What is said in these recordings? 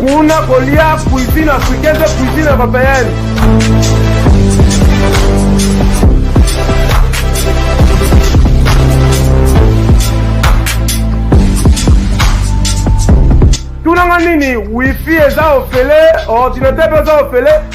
kuna kolia cuisine africaine mpe cuisine européenne tunanga nini wifi eza ofele ordinateur mpe eza ofele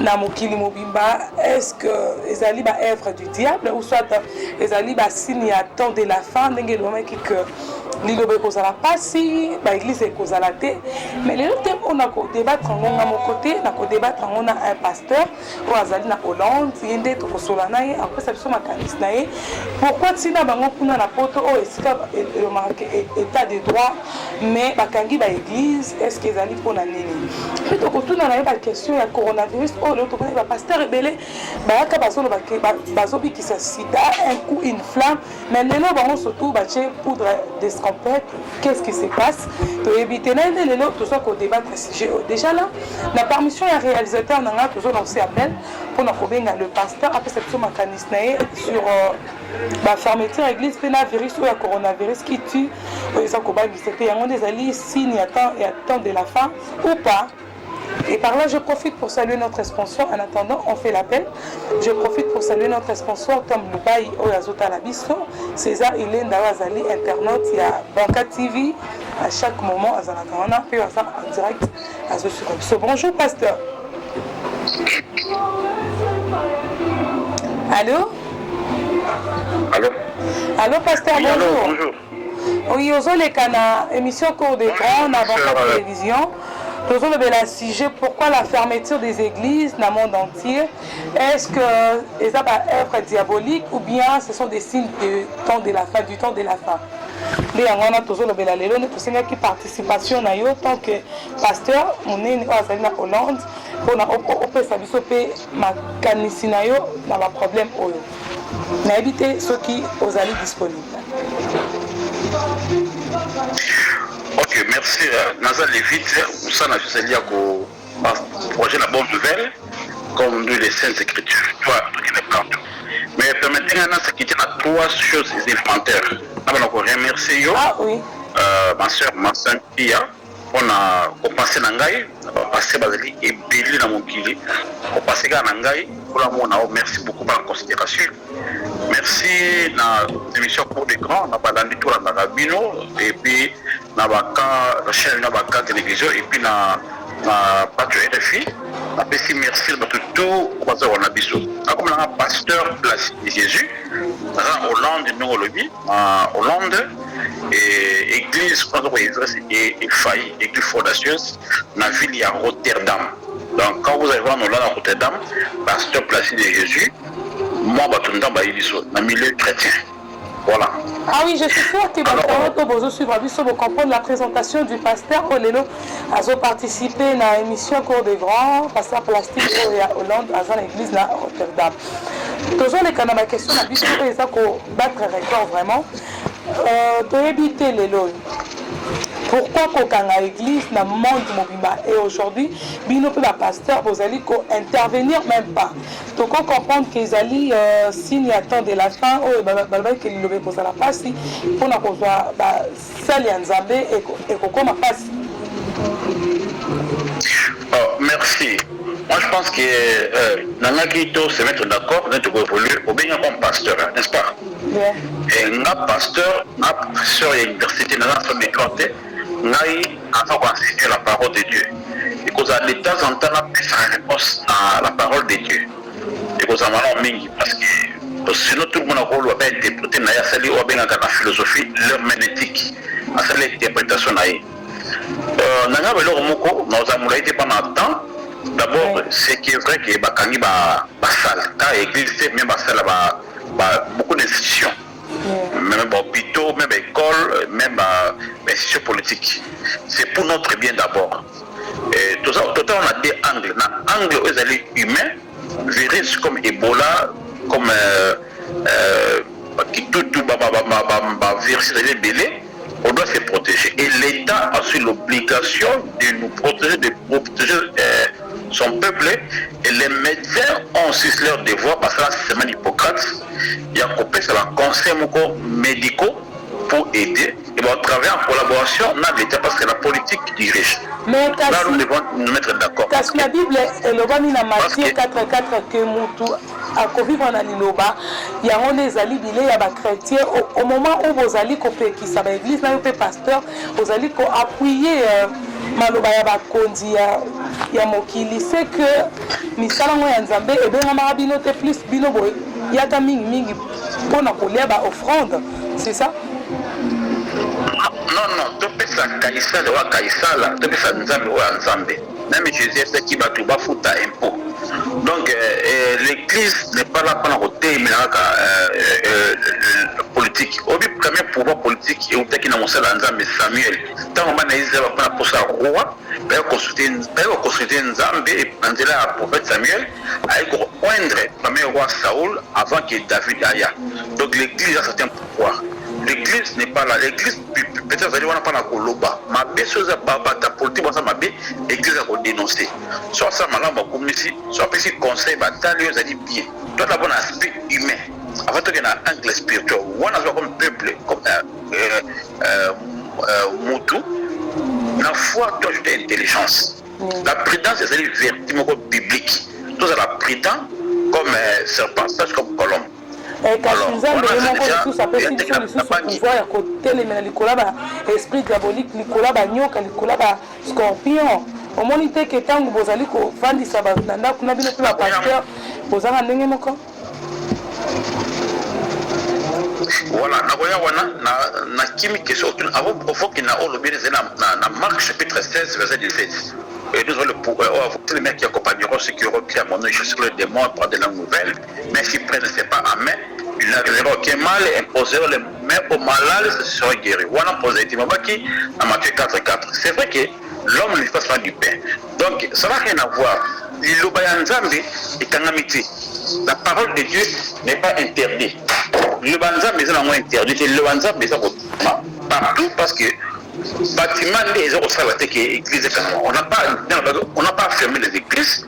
na mokili mobimba est-ce que ezali ba œuvre du diable ou soit ezali ba signe ya temps de la fin ndenge elobamaki que liloba ekozala mpasi baeglize ekozala te mais lelo te mpo na kodebattre yango nga moko te na kodebattre yango na un pasteur oyo azali na hollande ye nde tokosola na ye akopesa biso makanisi na ye pourkui ntina bango kuna na poto oyo esika elomaka état de droit mais bakangi ba eglise est ce que ezali mpona nini mpe tokotuna na ye baquestion ya coronavirus oyo lelo tomonaki bapasteur ebele bayaka bazoloba ke bazobikisa sida un coup une flamme mais lelo bango surtout batye poudre d'escampette qu'est ce qui se passe toyebi te naye nde lelo toza kodebatre sujet oyo déjà là na permission ya réalisateur na ngai tozolance appel mpona kobenga le pasteur apesa biso makanisi na ye sur euh, ba fermeture ya eglise mpe na virus oyo ya coronavirus qui tue oyo eza kobangisa mpe yango nde ezali signe ya temps, ya temps de la fin ou pas Et par là, je profite pour saluer notre sponsor. En attendant, on fait l'appel. Je profite pour saluer notre sponsor, Tom Lubai Oyazota Labiso. César Ilenda Wazali, internaute, il y a Banca TV. À chaque moment, Azana Kawana, puis Azana en direct. azo suka biso bonjour pasteur allô allô allô pasteur oui, bonjour, allô, bonjour. oui ozoleka na émission cours des grands na banca euh, télévision tozolobela sujet pourquoi la fermeture des églises na monde entier Est ce que eza ba oeuvres diaboliques ou bien ce sont des signes de temps de la fin du temps de la fin? nde yango wana tozolobela lelo nde tosengaki participation na yo tant que pasteur monene oyo azali na hollande mpona opesa biso mpe makanisi na yo na baproblème oyo nayebi te soki ozali disponible ok merci naza levite mosana ezali ya ko Ba projet na bonne nouvelle comme nous les saintes écritures toi tout qui n'est pas tout mais permettez nga na s'acquitter na trois choses élémentaires na bana ko remercier yo ah, oui. euh, ma sœur ma sainte Pia mpo na kopase na ngai na bapase bazali ebele na mokili kopase kaka na ngai mpona mona o merci beaucoup bana considération merci na émission cour de grand na balandi tolandaka bino epuis na ba cas na chaine na ba cas television epuis na na batu ya rfi na pesi merci na batu tout baza wana biso na koma nanga pasteur place de jesus naza na hollande ndenge olobi na hollande et église kuna aza koyezres efayi église fondatius na ville ya rotterdam donc quand vous allez voir nola na rotterdam pasteur place de jesus mwa bato ndambo ayebi biso na milieu chrétien Pona. Ah oui, je suis sûr que bato yango to bozo suivre biso bo comprendre la présentation du pasteur oyo lelo azo participer na émission cours des grands pasteur plastique oyo ya Hollande aza na église na Rotterdam. Tozoleka na ba question na biso oyo eza ko battre record vraiment. Euh, toyebi te lelo oyo pourquoi kokanga église na monde mobimba et aujourd'hui bino mpe bapasteur bozali kointervenir même pas Toko comprendre que ezali signe ya temps de la fin oyo balobaki que liloba ekozala pasi pona kozua ba salle ya Nzambe ekokoma pasi. Oh merci moi je pense que euh, nangaki to se mettre d'accord nde toko évoluer obengi nga comme pasteur n'est-ce pas yeah. e nga pasteur nga pasteur ya université naza asombi droit te Ngai naza ko enseigner la parole de Dieu ekozala de temps en temps na pesaka reponse na la parole de Dieu ekozala malamu mingi parce que sinon tout le monde akoloba ba interprete na ye asali oyo abengaka na philosophie l'hermeneutique asali interpretation na ye euh, na ngai eloko moko nakozala molai te mpo na temps d'abord ce qui est vrai que bakangi basala ta église te mais basala ba, ba, beaucoup d'institutions meme ba hopitaux meme ba ecole meme ba institution politique c'est pour notre bien d'abord totala na de angle na angle oyo ezali humain virus comme ebola comme euh, euh, kitutu bavirus ezali ebele On doit se proteger et l'etat a aussi l'obligation de nous proteger de proteger son peuple et les medecins ont aussi leur devoir basala serment d'Hippocrate ya kopesa ba conseils moko medicaux pour aider et ba travailler en collaboration na l'etat parce que la politique dirige Mais kasi, nous devons nous mettre d'accord kasi na Bible elobami na Matthieu 4 4 que mutu Akovivre na Liloba. Yango nde ezali bilei ya ba chretiens. Au, au moment où bozali kopekisa ba eglises nayo mpe pasteur, ozali ko appuyer euh, maloba ya bakonzi ya, ya mokili. C'est que misala ngo ya Nzambe ebengamaka bino te, plus bino boyaka mingi mingi mpo na kolia ba offrandes. C'est ça? Non, non, topesa Kaisala wa Kaisala, topesa Nzambe wa Nzambe. Meme Jesus atiaki batu ba futa impot donc l'eglise n'est pas là pona ko telemela kaka politique oyebi premier pouvoir politique ewutaki na mosali ya nzambe Samuel tango bana ya Israël bapona posa ya roi baye ko consulter nzambe na nzela ya prophète Samuel aye ko oindre premier roi Saul avant que David aya donc l'eglise a certains Pourquoi l'eglise n'est pas là l'eglise peut azali wana pona koloba mabe soki eza ba batu ya politique baza mabe eglise ako denoncer soki asala malamu akumisi soki apesi conseil batali oyo ezali bien toi d'abord na aspect humain avant toke na angle spirituel wana azwa comme peuple comme euh, euh, euh, euh mutu na foi to ajouter intelligence mm. la prudence ezali vertu moko biblique tozala prudent comme euh, serpent sage comme colombe Eh, kasi nzambe ye moko lisusu apesi biso lisusu pouvoir ya kotelemela likolo ya ba esprit diabolique likolo ya banyoka likolo ya ba scorpion omoni te ke ntango bozali kofandisa bato na ndako na bino mpe bapasteur bozanga ndenge moko voilà nakoya wana na kimi ke soki ofoki na oyo lobi ezali na mark chapitre 16 verset 17 et nous allons le pouvoir le mec qui accompagnera ceux qui auront pris à mon nom je serai le démon par de langues nouvelles Mais si prêtre c'est pas amen, il a raison que mal imposer le mais au malade se sera guéri. Wana pose dit mabaki na Matthieu 4 4. C'est vrai que l'homme ne vit pas seulement du pain. Donc ça n'a rien à voir. Liloba ya Nzambe ekangami te. La parole de Dieu n'est pas interdite. Liloba ya Nzambe eza nango interdit te. Liloba ya Nzambe eza kotuma partout parce que bâtiment nde eza kosala te ke église ekangama. On n'a pas on n'a pas fermé les églises.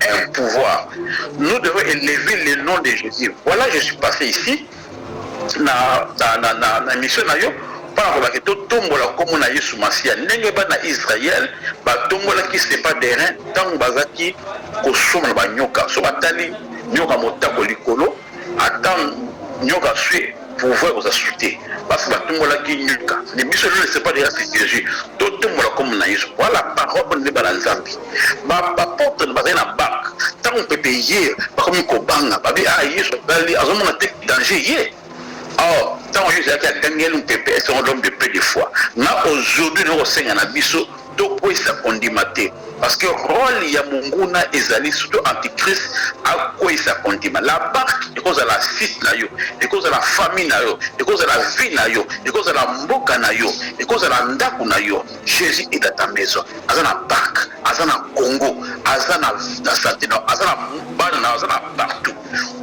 un pouvoir nous devons elever le nom de Jesus voilà je suis passe ici na na na na mission na yo mpo na kolaka totombola nkombo na yesu masiya ndenge bana israel batombolaki sepa derin ntango bazalaki kosomola banyoka so batali nyoka motako likolo Ata nyoka fait pouvoir oza su te basi ba tumbolaki nyoka mais biso lelo c'est pas de race jesus to tumbola kombo na yesu voila parole oyo nde bana nzambe ba apotre bazali na bank tango mpepe eye bakomi kobanga babi ah yesu azali azomona te danger ye or tango yesu azalaki agangeli mpepe est ce l'homme de peu de foi na aujourd'hui nakosenga na biso Tokweyisa kondima te parce que role ya monguna ezali surtout antichrist akweyisa kondima la marque ekozala site na yo ekozala famille na yo ekozala vie na yo ekozala mboka na yo ekozala ndako na yo Jesus est dans ta maison aza na parc aza na Congo aza na na santé na aza na bana na aza na partout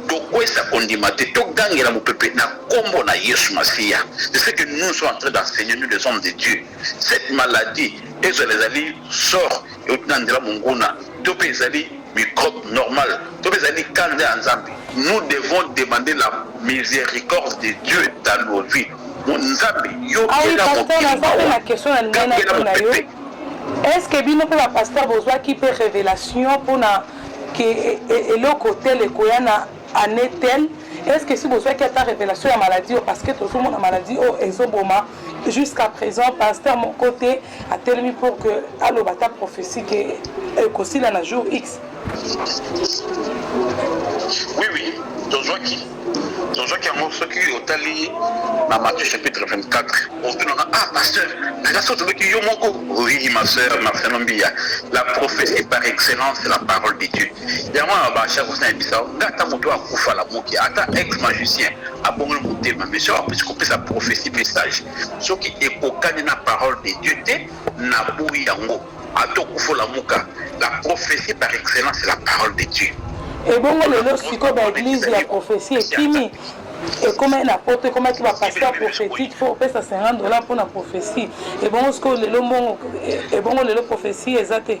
tokweyisa kondima te togangela mopepe na kombo na Yesu Masiya c'est ce que nous sommes en train d'enseigner nous les hommes de Dieu Cette maladie ezala ezali sort euti na nzela monguna to pe ezali microbe normal to pe ezali kanda ya Nzambe, nous devons demander la misericorde de Dieu dans nos vies. Nzambe yo Ah oui, kela pasteur, mokili naza pe mawa, na question na lingai kela natuna yo. mopepe. Est-ce que bino pe ba pasteur bozwaki pe revelation pona que e- e- eloko tel ekoya na annee tel est ce que esi bozwaki ata revelation ya maladie oyo parce que tozo mona maladie oyo ezo boma jusqu'à present pasteur moko te atelemi pour que aloba ata prophetie que ekosila na jour x oui oui tozwaki tozwaki yango soki otali na matthieu chapitre 24 otunaka ah pasteur naza so tobeki yo moko oui ma sœur marcelo mbiya la prophétie par excellence la parole de dieu Yango wana ba chakos na yebisa yo nga ata moto akufa lamuki ata ex magicien abongoli motema mais soki apesi kopesa prophetie message soki ekokani na parole de Dieu te na boyi yango ata okufa olamuka la prophetie par excellence la parole de Dieu ebongo lelo siko ba eglise ya prophetie ekimi ekomaki na poto ekomaki bapaster prophétique fo opesa 50 dollar mpona prophétie ebongo sikoyo lelo mbongo ebongo lelo prophétie eza te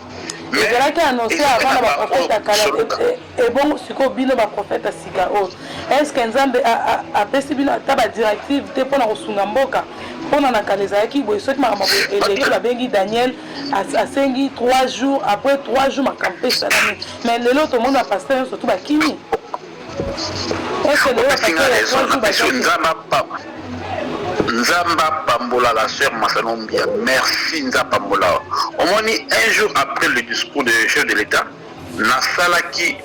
ezalaki annonce avant na ba prophète ya kala ebongo sikoyo bino ba prophète ya sika oyo oh. est ce que nzambe apesi bino ata ba directive te mpona kosunga mboka mpona na kala ezalaki boye soki makambo eleki babengi daniel asengi 3 jours après 3 jours makambo mpe esalami mais lelo tomoni bapaster nyonso tu bakimi Opesi nga raison na pesi yo nzambe apambola nzambe apambola la sœur Masano Mbiya merci nzambe apambola yo omoni un jour après le discours de chef de l'etat nasalaki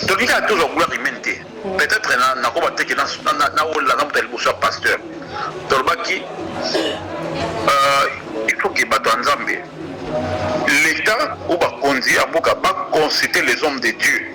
toki kaka tozwa gloire humaine te peut-être nakoba te ke nawolela na moto ya liboso ya pasteur tolobaki euh, il faut ke bato ya nzambe l'état ou bakonzi ya mboka baconsulte les hommes de dieu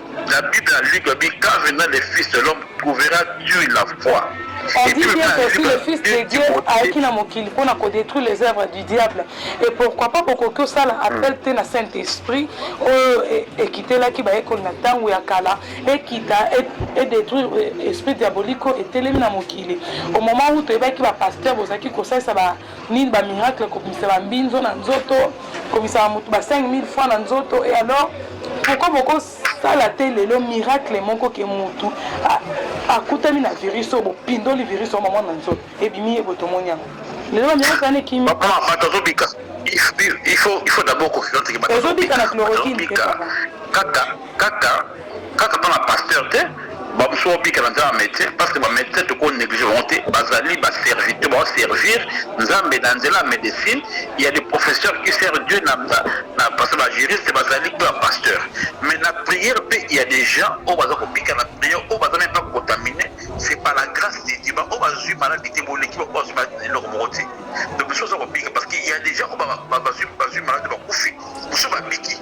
La bible na luc alobi quand viendra le fils de l'homme trouvera tu la foi On dit bien que si le fils de Dieu ayaki na mokili pona ko detruire les œuvres du diable et pourquoi pas bokoki osala appel te na saint esprit oyo ekitelaki bayekoli na tango ya kala ekita et detruire esprit diabolique oyo etelemi na mokili au moment où toyebaki ba pasteur bozalaki kosalisa ba Nini ba miracle kobimisa ba mbinzo na nzoto kobimisaka mutu ba 5000 francs na nzoto et alors pourquoi boko sala te lelo miracle moko ke mutu akutami na virus oyo bopindoli virus oyo mama na nzoto ebimi ye botomoni yango lelo ba miracle wana ekimi papa bato azobika il faut il faut d'abord confidence ke bato ezobika na chloroquine kaka kaka Kaka pona pasteur te ba mususu bao bika na nzela ya ba medecin parce que ba medecin toko negliger bango te bazali ba serviteur bao servir nzambe na nzela ya medecine il ya des professeurs qui sert Dieu na parce que ba juriste bazali pe ba pasteur mais na prière pe il ya des gens oyo baza kobika na prière oyo baza meme pas contamine c'est par la grâce de Dieu ba oyo bazui maladi te boleki ba oyo bazui maladi na eloko moko te donc mususu aza kobika parce que il ya des gens oyo bazui maladi bakufi mususu babiki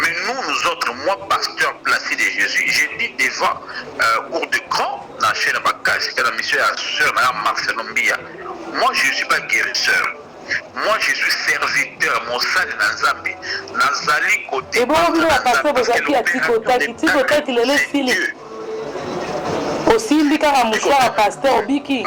Mais nous nous autres moi pasteur placide de Jesus j'ai dit devant euh, cours de grand na chaîne bakasi kana mission ya sœur na Marcelo Mbia moi je suis pas guérisseur moi je suis serviteur mosali na nzambe nazali kote ebongo bino bapasteur bozalaki ya tikotaki tikotaki lelo esili osimbi kaka mosala pasteur obiki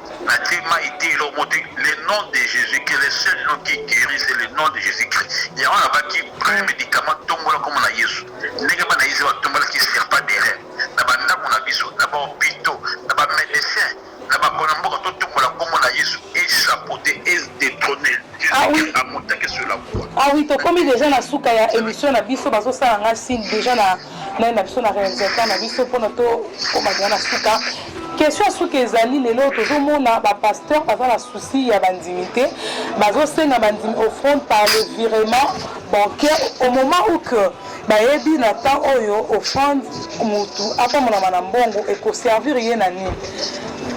Natie mayi te eloko moko te le nom de Jesus que le seul nom qui guerit c'est le nom de Jesus Christ yango nalobaki premier medicament tombola kombo na Yesu ndenge bana Israël batombolaki serpent d'airain na ba ndaku na biso na ba hopitaux na ba medecins na ba kona mboka totombola kombo na Yesu et chapeauter et detrone Ah oui. Jesus a montaki sur la croix Ah oui, tokomi deja na suka ya emission na biso, bazosala nga signe deja na naye na biso na realisateur na biso mpona tokoma deja na suka question ya suka ezali lelo tozomona bapasteur baza na souci ya bandimi te bazosenga bandimi offrande par le virement bancaire au moment où que bayebi na temps oyo offrande motu apambolama na mbongo ekoservir ye na nini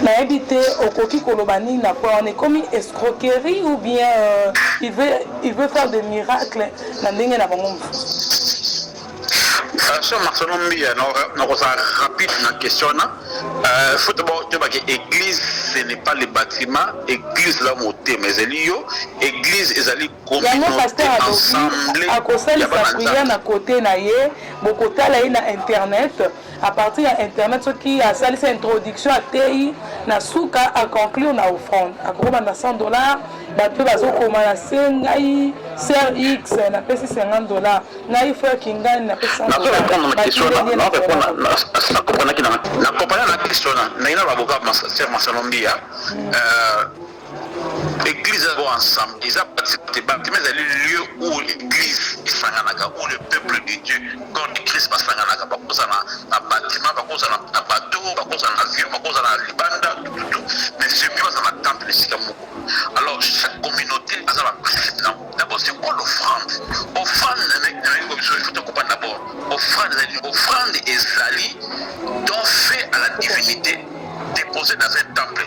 nayebi te okoki koloba nini na point wana ekomi escroquerie ou bien euh, il, veut, il veut faire des miracles na ndenge na bango mosusu Franchement Marcelo Mbiya nakozala rapide na question wana euh, foto toyeba ke église ce n'est pas le bâtiment église la motema ezali yo église ezali communauté ensemble akosalisa prière na kote na ye bokotala ye na internet A partir ya internet soki asalisi introduction ateyi na suka a conclure na offrande akokoma na 100 dollars batu pe bazokoma na se ngai sœur X na pesi 50 dollars ngai frère Kingani na pesi 100 dollars ba kingani na compagnie na Christ wana ndenge na baboka sœur Marcelo Mbia euh Eglise eza ensemble, eza participate bapte, mais ezali lieu où l'église esanganaka, où le peuple de Dieu, corps de Christ basanganaka, bakozala na bâtiment, bakozala na bateau, bakozala na avion, bakozala na libanda, tututu, mais semi bazala na temple esika moko. Alors chaque communauté aza na principe na d'abord c'est quoi l'offrande? Offrande nayebi biso il faut tokopana d'abord, offrande ezali offrande ezali don fait à la divinité déposé dans un temple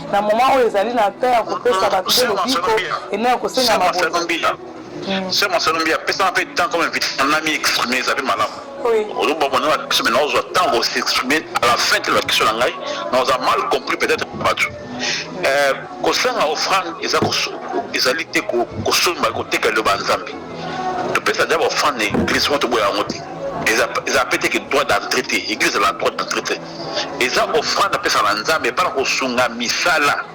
na moment oyo ezali na temps ya kopesa bato mpe lobiko ena ya kosenga mabonza se masano mbi apesaka mpe temps comme invité na mi exprime eza mpe malamu oloba bona na question mais naozwa temps ko s'exprime à la fin te na question na ngai naoza mal compris peut-être bato euh, kosanga offrande eza ezali te kosomba koteka eloba nzambe topesa deja baoffrande na église moko toboya yango te eza mpe te ke droit d'entrée te église ezala droit d'entrée te eza offrande apesa na nzambe epai na kosunga misala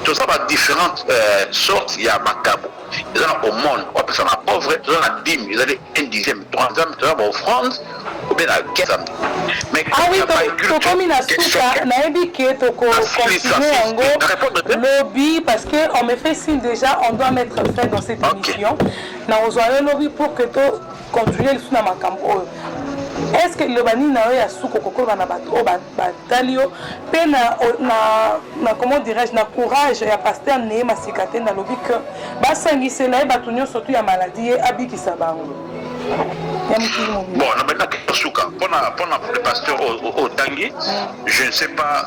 toza ba differentes euh, sortes ya makabo eza na aumone opesa na pauvre toza na dime ezali un dixième to nzambe toza ba offrande obe na nzambe tokomi na suka nayebi ke tokocontinue yango lobi parce que on me fait signe déjà on doit mettre fin dans cette émission na ozwa yo lobi pour que to Continue lisusu na makambo oyo. Est ce que liloba nini na yo ya suka okoki koloba na bato oyo batali yo mpe na, na, na comment dirais-je na courage ya pasteur neye masika te nalobi que basangisela ye bato nyonso tu ya maladie ye abikisa bango ya mokili mobimba bon na bandaki suka mpona mpona pasteur otangi je ne sais pas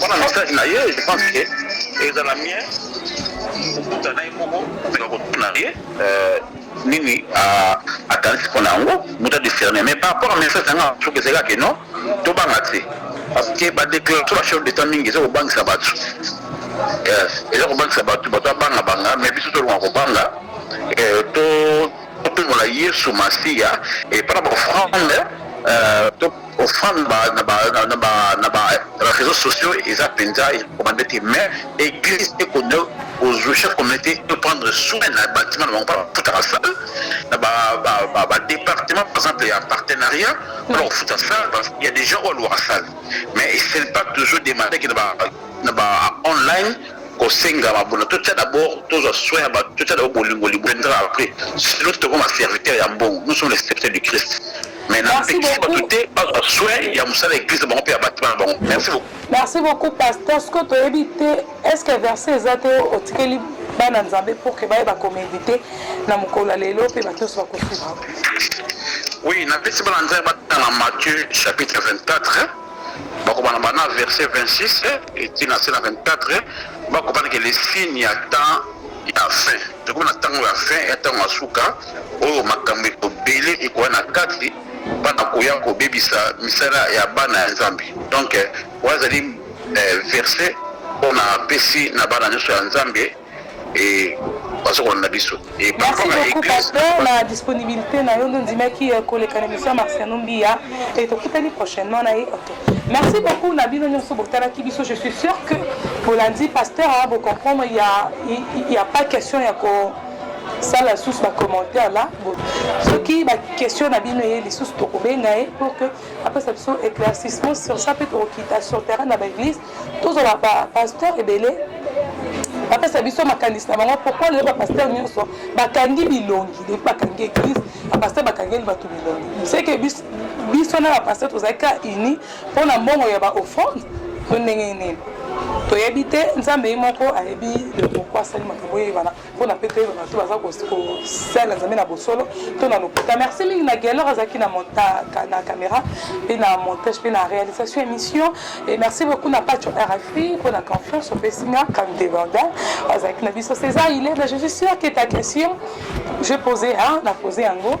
Pona message na ye je pense que ezala mieux okuta na ye moko tika kotuna ye nini akanisi pona yango muta discerne mais par rapport a message na nga soki ezali kaka non tobanga te parce que ba declaration ba chef d'etat mingi eza kobangisa batu eza kobangisa batu batu abanga banga mais biso tolonga kobanga to topengola yesu masiya epana bafrande Kofanda na ba na ba na ba reseaux sociaux eza penza ekomande te mais eglise ekondo kozwisha communauté to prendre soin na bâtiment na bango mpo bafutaka salle na ba ba ba ba département par exemple ya partenariat mpona kofuta salle parce qu'il y a des gens oyo alwaka salle mais esali pas toujours demande ke na ba na ba online kosenga mabona totya d'abord tozwa soin ya bato totya d'abord bolingo libondra après sinon tokoma serviteur ya mbongo nous sommes les serviteurs du christ mais na Merci pekisi beaucoup. bato te bazwa soin ya mosala ya eglise na bango mpe ya batima na bango merci beaucoup Merci beaucoup pasteur ce que toyebi te est-ce que verset eza te otikeli bana nzambe pour que bayeba komedite na mokolo ya lelo mpe bato nyonso bakosuka oui napesi bana nzambe batanga matthieu chapitre 24 bakobana bana verset 26 eti na se na 24 bakobana ke le signe ya temps ya fin Tokomi na tango ya fin ya tango ya suka oyo makambo ebele ekoya na kati pona koya kobebisa misala ya bana ya Nzambe. Donc oyo azali verse oyo napesi na bana nionso ya Nzambe et bazo kolanda biso. Merci beaucoup pasteur na disponibilite na yo nde ondimaki koleka na emission ya Marciano Mbiya et tokutani prochainement na ye. Merci beaucoup na bino nyonso botalaki biso je suis sûr que bolandi pasteur a bocomprendre il y a, il y a pas question ya ko sala lisusu bacommentaire la soki baquestion na bino eye lisusu tokobenga ye pour que apesa biso éclaircissement sur ça mpe tokokita sur terrain na baeglise tozala bapasteur ebele bapesa biso makanisi na bango pourkoi lelo bapasteur nyonso bakangi bilongi depuis bakangi église bapasteur bakangeli bato bilongi seke biso biso na ba pasteur tozali ka uni mpo na mbongo ya ba offrande to ndenge nini toyebi te nzambe ye moko ayebi le pourkoi asali makambo oyebana mpo na mpe toyeba bato baza kosala nzambe na bosolo to na lokuta merci mingi na guelor azalaki na caméra mpe na montage mpe na réalisation émission et merci beaucoup na pacho rfi mpo na confiance opesi nga comme débordant azalaki na biso césar ile mais je suis sûr que ta question je posé na posé yango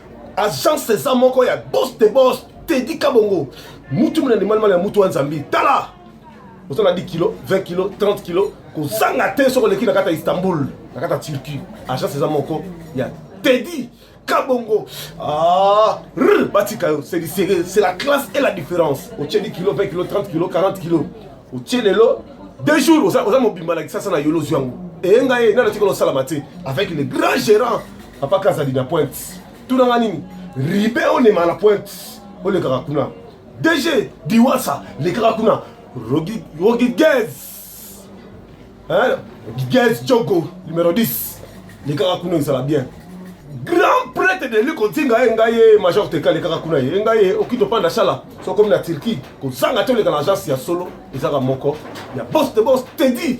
agence eza moko ya bos de bos tedi kabongo mutu muna ndimali mali ya mutu wa nzambi tala oza na 10 kilo 20 kilo 30 kilo kozanga te soki oleki na kati ya istanbul na kati ya turquie agence eza moko ya tedi kabongo ah, rr, batika yo c'est du sérieux c'est la classe et la différence otie 10 kilo 20 kilo 30 kilo 40 kilo otie lelo deux jours oza, oza mobimba na kisasa na yolo ozwi yango eyenga ye nani atikala osalama te avec le grand gérant papa kazadi na pointe tunanga nini ribe onema na pointe olekaka kuna dg diwasa lekaka kuna rogigez gigez jogo numero 10 lekaka kuna ezala bien grand prêtre de lui kotinga ye ngai ye major teka lekaka kuna ye ngai ye oki topanda sala sokomi na turquie kozanga te oleka na agence ya solo ezaka moko ya poste bos tedi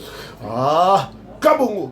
ah kabongo